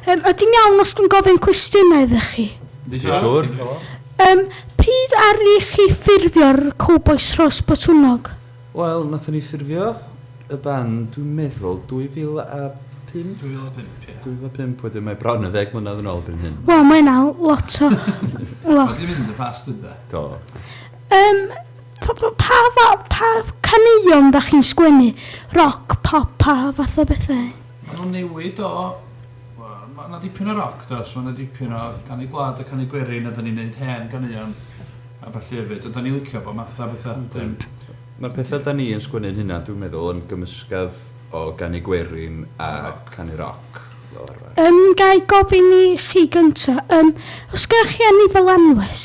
Yym, ydy'n iawn os dwi'n gofyn cwestiynau iddo chi? Ti'n siŵr? Yym, pryd aru chi ffurfio'r Cowbois Rhos Botwnnog? Wel, nathon ni ffurfio y band, dwi'n meddwl, 2005? 2005, ie. 2005, wedyn mae bron yn ddeg mlynedd yn ôl erbyn hyn. Wel, mae hynna lot o... lot. Mae 'di mynd yn fast ynde? Do. Yym, pa, pa, pa, fa- pa caneuon da chi'n sgwennu? Roc, pop, pa fath o bethau? Maen nhw'n newid o, mae 'na dipyn o roc does, mae 'na dipyn o canu gwlad a canu gwerin a 'dan ni'n neud hen ganeuon a ballu hefyd a 'dan ni'n licio bob math a betha. Ydyn. Ma'r petha 'dan ni yn sgwennu'n hunan dwi'n meddwl yn gymysgedd o ganu gwerin a canu roc fel arfer. Yym ga i gofyn i chi gynta, yym os gennoch chi enw fel anwes?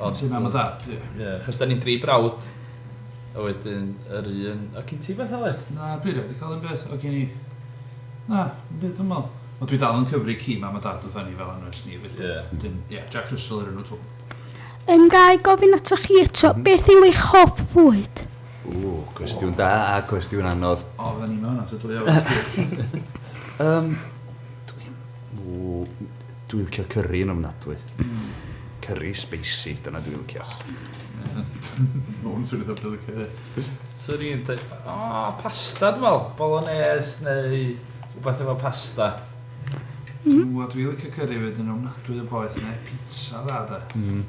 Ond ti'n mam a dad, ie. Ie, achos 'da ni'n dri brawd, a wedyn yr un... O, gin ti beth Aled? Na, dwi rioed 'di cael un beth, o gin i... Na, dim byd dwi'n meddwl. Ond dwi dal yn cyfri ci mam a dad wrtha ni fel anwes ni felly. Ie. Wedyn, ie, Jack Russell yw'r enw twp. Yym, ga i gofyn atoch chi eto, beth yw eich hoff fwyd? Ww, cwestiwn da a cwestiwn anodd. O, fydda ni'n meddwl 'na ta dwy awr. Yym, dwi'n... Ww. Dwi'n licio cyrri yn ofnadwy. Cyrri sbeisi, dyna dwi'n licio. Mae hwn yn swnio fatha dwi'n licio hefyd. Swn i'n deud, o, pasta dwi'n meddwl, bolognese neu rhywbeth efo pasta. Dw, a dwi'n licio cyrri hefyd, yn ofnadwy o boeth, neu pitsa dda de.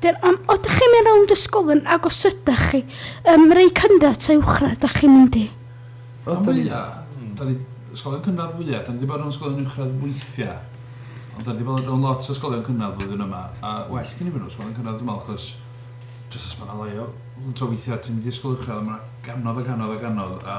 Dyn am o dych chi'n mynd rownd ysgolion ag os ydych chi ym mreu cynradd ta uwchradd dych chi'n mynd i? Rhan fwya, da ni, ysgolion cynradd fwya, da ni di bod rownd ysgolion uwchradd weithia, ond da ni di bod rownd lot o ysgolion cynradd flwyddyn yma, a well gin i mynd rownd ysgolion cynradd dwi'n meddwl achos jyst os ma na lai o, tro weithia ti'n mynd i ysgol uwchradd a ma na ganodd a ganodd a ganodd a